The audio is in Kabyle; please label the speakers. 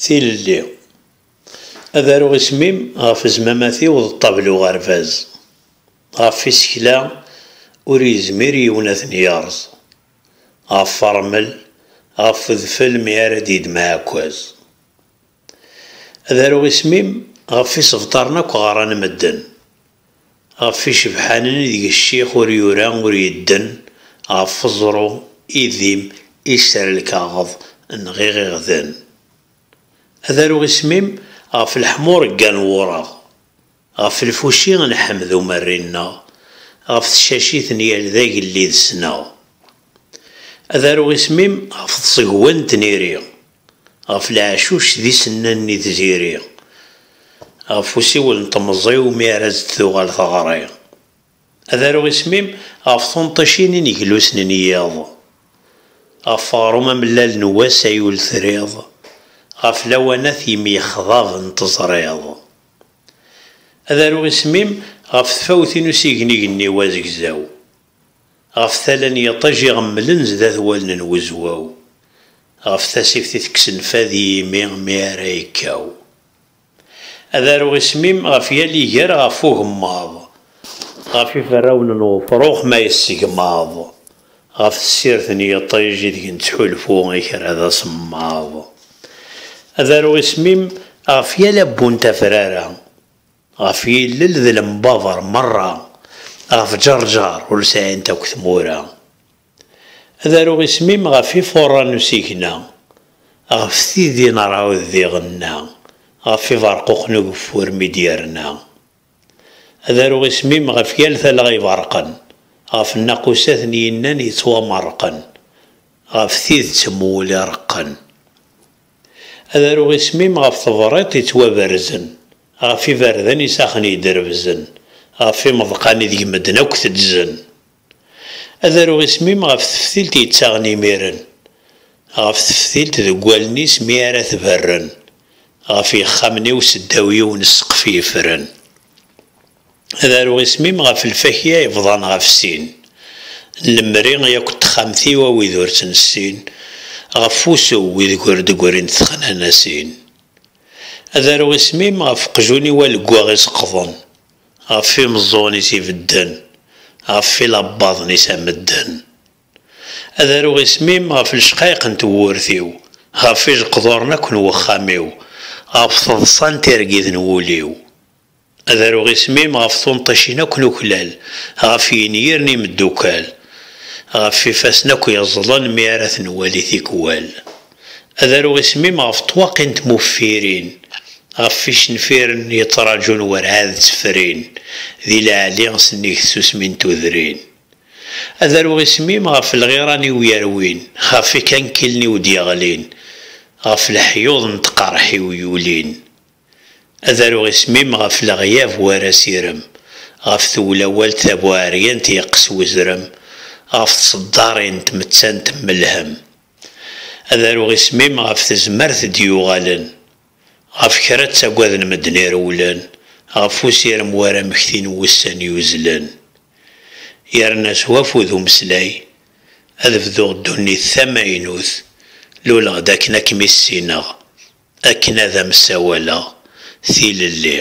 Speaker 1: Tilelli, ad aruɣ isem-im ɣef zmamat-iw d ṭṭabel uɣerbaz, ɣef isekla ur yezmir yiwen ad ten-yerẓ, ɣef rrmel, ɣef udfel mi ara d-yeddem aɛekkaz. Ad aruɣ isem-im ɣef isebṭaren akk ɣran medden, ɣef icebḥanen ideg ccix ur yura ur yedden, ɣef uẓru, idim, iser lkaɣeḍ, nɣiɣ iɣden. Ad aruɣ isem-im ɣef leḥmuṛegga n wureɣ. Ɣef lfuci nḥemmed umerri-nneɣ, ɣef tcacit n yal d agellid sneɣ. Ad aruɣ isem-im ɣef tẓegwa n tniri, ɣef leɛcuc d isennan-nni d tiri, ɣef usiwel n temẓi-w mi ara as-d-tuɣal teɣri. Ad aruɣ isem-im ɣef tunṭicin ineglusen n yiḍ, ɣef uɣrum amellal n wass ay ul-triḍ, ɣef lawanat yemyexḍaben teẓriḍ. Ad aruɣ isem-im ɣef tfawti n usignig-nni n azegzaw, ɣef tala n yiṭij iɣemmlen sdat wallen n wezwaw, ɣef tasift i tekksen fad i yimi mi ara yekkaw. Ad aruɣ isem-im ɣef yal iger ɣef ugemmaḍ, ɣef iferrawen n wefrux ma yessegmaḍ, Ɣef tessirt n yiṭij ideg nettḥulfu i kra d asemmaḍ. Ad aruɣ isem-im ɣef yal abbu n tafrara, ɣef yillel d lembaber merra, ɣef ǧerǧer ur sɛint akk tmura. Ad aruɣ isem-im ɣef ifuṛṛa n usigna, ɣef tidi n ṛṛɛud d iɣenna, ɣef ibeṛquq n ugeffur mi d-yerna. Ad aruɣ isem-im ɣef yal talɣa iberrqen, ɣef nnaqusat n yinnan yettwamerrqen, ɣef tidet n wul ireqqen. Ad aruɣ isem-im ɣef tebriṭ yettwaberzen, ɣef iberdan isaxen yedrebzen, ɣef imeḍqan ideg medden akk teddzen. Ad aruɣ isem-im ɣef teftilt yettaɣen imiren, ɣef teftilt deg wallen-is mi ara tberren, ɣef yexxamen-iw seddaw yiwen ssqef yefren. Ad aruɣ isem-im ɣef lfakya yebḍan ɣef sin, lemri yakk n texxamt-iw a wid ur tt-nessin, ɣef wusu ideg ur d-grin texnanasin. Ad aruɣ isem-im ɣef uqjun-iw aleggaɣ iseqḍen, Ɣef imeẓẓuɣen-is ibedden. Ɣef ilabbaḍen-is a medden. Ad aruɣ isem-im ɣef lecqayeq n tewwurt-iw, ɣef ijeqduren akk n wexxam-iw, ɣef teḍsa n tirgit n wul-iw. Ad aruɣ isem-im ɣef tunṭicin akk n uklal, ɣef yenyir n imeddukal, ɣef ifassen akk yeẓẓlen mi ara ten-nwali tikwal. ad aruɣ isem-im ɣef ṭṭwaq-i n tmuffirin, ɣef icenfiren yeṭṭraǧun werɛad ttefrin, di leɛli sennig tsusmi n tudrin. Ad aruɣ isem-im ɣef lɣiran-iw yerwin, ɣef ikankilen-iw d-yeɣlin, ɣef leḥyuḍ n tqerḥ-iw yulin. Ad aruɣ isem-im ɣef leɣyab war asirem, ɣef tewlawalt tabuɛeryant yeqqes wezrem, ɣef tseddar-i n tmettant melhem. Ad aruɣ isem-im ɣef tezmert d-yuɣalen, ɣef kra ttagaden medden irewlen, ɣef usirem war amekti n wussan yuzlen. Yerna s wafud umeslay, ad bduɣ ddunit tamaynut, luleɣ-d akken ad kem-issineɣ, akken ad am-ssawaleɣ tilelli.